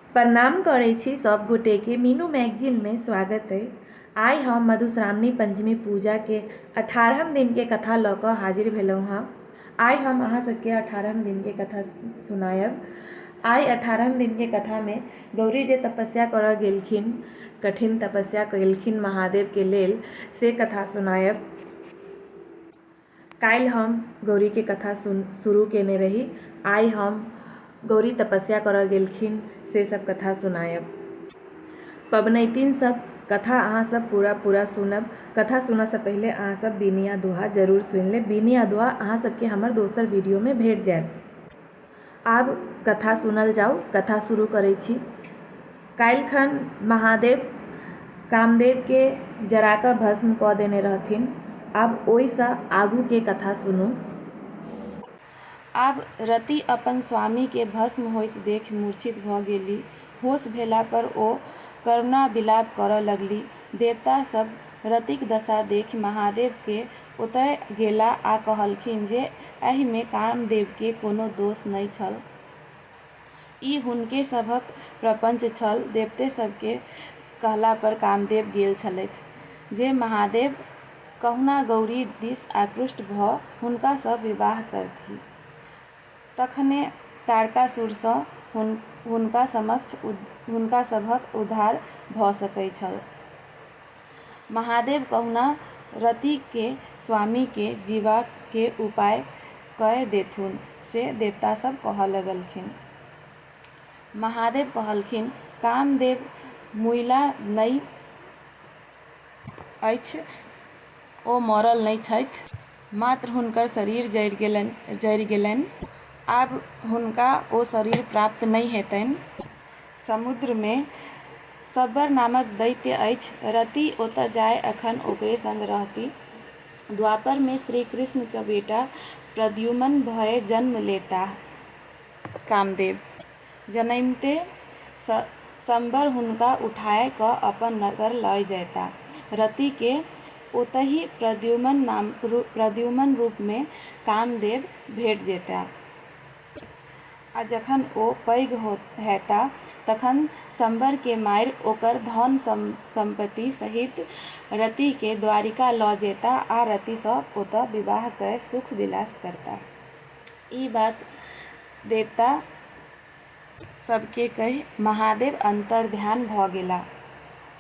प्रणाम करै छी सब गोटे के मीनू मैगजीन में स्वागत अइ आइ हम मधुश्रावणी पंचमी पूजा के अठारहम दिन के कथा लऽ कऽ हाजिर भेलहुँ हँ आइ हम अहाँ सबके अठारहम दिन के कथा सुनायब आइ अठारहम दिन के कथा में गौरी जे तपस्या करऽ गेलखिन कठिन तपस्या केलखिन महादेव के लेल से कथा सुनायब काल्हि हम गौरी के कथा सुन शुरू केने रही आइ हम गौरी तपस्या करऽ गेलखिन से सब कथा सुनायब पबनैतिन सब कथा अहाँ सब पूरा पूरा सुनब कथा सुनऽ से पहिले अहाँ सब बीनी आ दोहा जरूर सुनि लेब बीनी आ दोहा अहाँ सबके हमर दोसर वीडियो मे भेट जायत। आब कथा सुनल जाउ कथा शुरू करै छी काल्हिखन महादेव कामदेवके जरा कऽ भस्म कऽ देने रहथिन आब ओहिसँ आगूके कथा सुनू आब रति अपन स्वामीके भस्म होइत देखि मूर्छित भऽ गेली होश भेला पर ओ करुणा विलाप करऽ लगली देवता सभ रतिक दशा देखि महादेवके ओतय गेला आ कहलखिन जे एहि मे कामदेव के कोनो दोष नहि छल। ई हुनके सभक प्रपंच छल। देवते सभ के कहला पर कामदेव गेल छलथि। जे महादेव कहुना गौरी दिस आकृष्ट भ हुनका सँ विवाह करथि। तखने तारकासुर सँ हुनका समक्ष हुनका सभक उद्धार भ सकैत छल। महादेव कहुना रतिके स्वामीके जीबाके उपाय कए देथुन से देवता सब कहऽ लगलखिन। महादेव कहलखिन, कामदेव मुइला नै अछि, ओ मरल नै छथि, मात्र हुनकर शरीर जरि गेलनि। आब हुनका ओ शरीर प्राप्त नै हेतनि। समुद्रमे शबर नामक दैत्य अछि। रति ओतऽ जाए अखन ओकरे संग रहति। द्वापरमे श्रीकृष्णक बेटा प्रद्युमन भए जन्म लेताह। कामदेव जनैमते शबर हुनका उठाए कऽ अपन नगर लए जएताह। रतिकेँ ओतहि प्रद्युमन रूपमे कामदेव भेट जेताह। आ जखन ओ पैघ हेताह तखन शम्बरकेँ मारि ओकर धन-सम्पति सहित रतिकेँ द्वारिका लऽ जेताह आ रतिसँ ओतए विवाह कए सुख-विलास करताह। ई बात देवता सभकेँ कहि महादेव अन्तर्ध्यान भऽ गेलाह।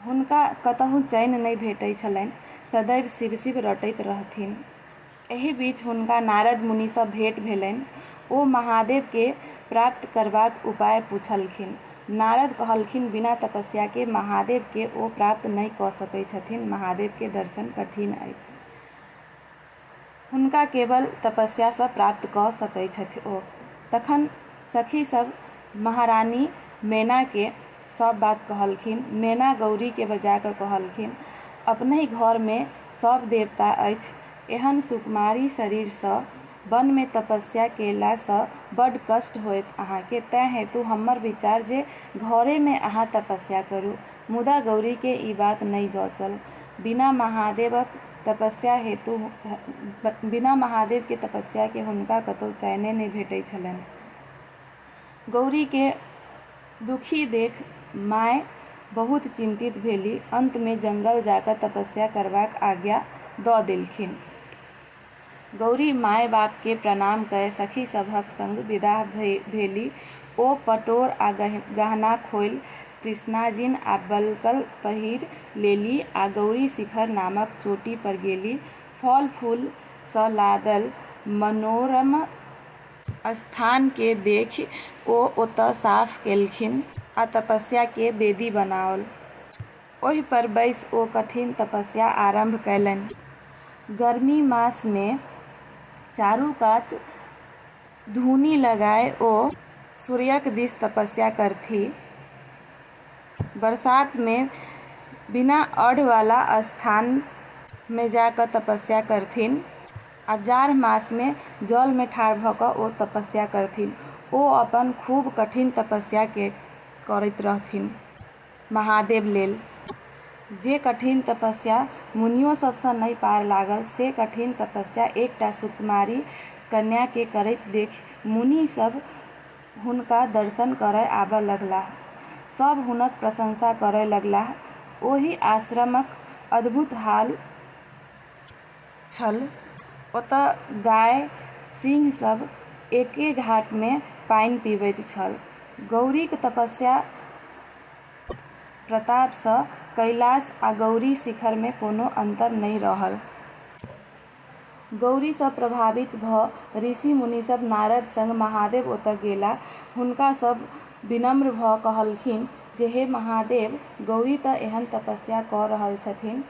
हुनका कतहु चैन नहि भेटैत छलनि। सदैव शिव-शिव रटैत रहथिन। एहि बीच हुनका नारद मुनिसँ भेंट भेलनि। ओ महादेवकेँ प्राप्त करबाक उपाय पुछलखिन। नारद कहलखिन बिना तपस्याकेँ महादेवकेँ ओ प्राप्त नहि कऽ सकैत छथिन। महादेवकेँ दर्शन कठिन अछि। हुनका केवल तपस्या सँ प्राप्त कऽ सकै छथि ओ। तखन सखी सभ महारानी मैना केँ सभ बात कहलखिन। मैना गौरी केँ बजा कऽ कहलखिन, अपनहि घर मे सभ देवता अछि। एहन सुकुमारी शरीर सँ वन मे तपस्या केला सँ बड कष्ट होयत अहाँ केँ। तैं हेतु हम्मर विचार जे घरे मे अहाँ तपस्या करू। मुदा गौरी केँ ई बात नहि जँचल। बिना महादेवक। तपस्या हेतु बिना महादेव के तपस्या के हुनका कतौ चैने नहि भेटै छलनि। गौरी के दुखी देख माय बहुत चिंतित भेली। अंत मे जंगल जाकय तपस्या करबाक आज्ञा दऽ देलखिन। गौरी माए-बाप केँ प्रणाम कए सखी सभक संग विदा भेलि। ओ पटोर आ गहना खोलि कृष्णाजिन आ बलकल पहिरि लेलि आ गौरी शिखर नामक चोटी पर गेलि। फल-फूल सँ लादल मनोरम स्थान केँ देखि ओ ओतए साफ केलखिन आ तपस्या केँ वेदी बनाओल। ओहि पर बैसि ओ कठिन तपस्या आरम्भ कयलनि। गर्मी मास मे चारू कात धूनि लगाय ओ सूर्यक दिस तपस्या करथि। बरसात मे बिना अढ़ वला स्थान मे जा क तपस्या करथिन्ह आ जाढ़ मास मे जल मे ठाढ़ भ क ओ तपस्या करथिन्ह। ओ अपन खूब कठिन तपस्या के करैत रहथिन्ह। महादेव लेल जे कठिन तपस्या मुनियो सभसँ नहि पार लागल से कठिन तपस्या एकटा सुकुमारी कन्याकेँ करैत देखि मुनि सभ हुनका दर्शन करय आबऽ लगलाह। सभ हुनक प्रशंसा करय लगलाह। ओहि आश्रमक अद्भुत हाल। छल। ओतय गाए, सिंह सभ एके घाट मे पानि पीबैत छल। गौरीक तपस्या प्रताप सँ कैलाश आ गौरी शिखर मे कोनो अन्तर नहि रहल। गौरी सँ प्रभावित भ ऋषि-मुनि सभ नारद संग महादेव ओतय गेला। हुनका सभ विनम्र भ कहलखिन जे हे महादेव, गौरी त एहन तपस्या क रहल छथिन्ह।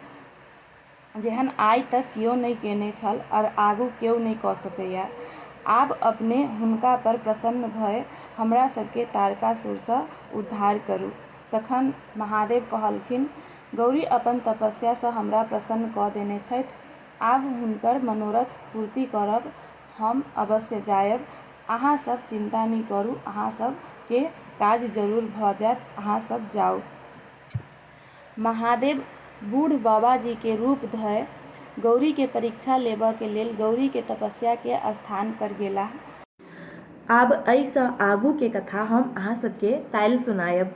जेहन आइ तक केओ नहि कयने छल अर आगू केओ नहि कऽ सकैए। आब अपने हुनका पर प्रसन्न भए हमरा सभकेँ तारकासुरसँ उद्धार करू। तखन महादेव कहलखिन, गौरी अपन तपस्यासँ हमरा प्रसन्न कऽ देने छथि। आब हुनकर मनोरथ पूर्ति करब। हम अवश्य जाएब। अहाँ सभ चिन्ता नहि करू। अहाँ सभ केँ काज जरूर भऽ जाएत। अहाँ सभ जाउ। महादेव बूढ़ बाबाजी के रूप धय गौरी के परीक्षा लेबऽ के लेल गौरी के तपस्या के स्थान पर गेलाह। आब अइ सँ आगू के कथा हम अहाँ सब के काल्हि सुनायब।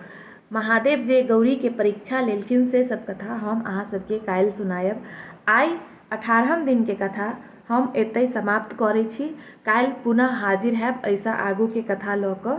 महादेव जे गौरी के परीक्षा लेलखिन से सब कथा हम अहाँ सब के काल्हि सुनायब। आइ अठारहम दिन के कथा हम एतय समाप्त करय छी। काल्हि पुनः हाजिर हैब अइ सँ आगू के कथा लऽ कऽ।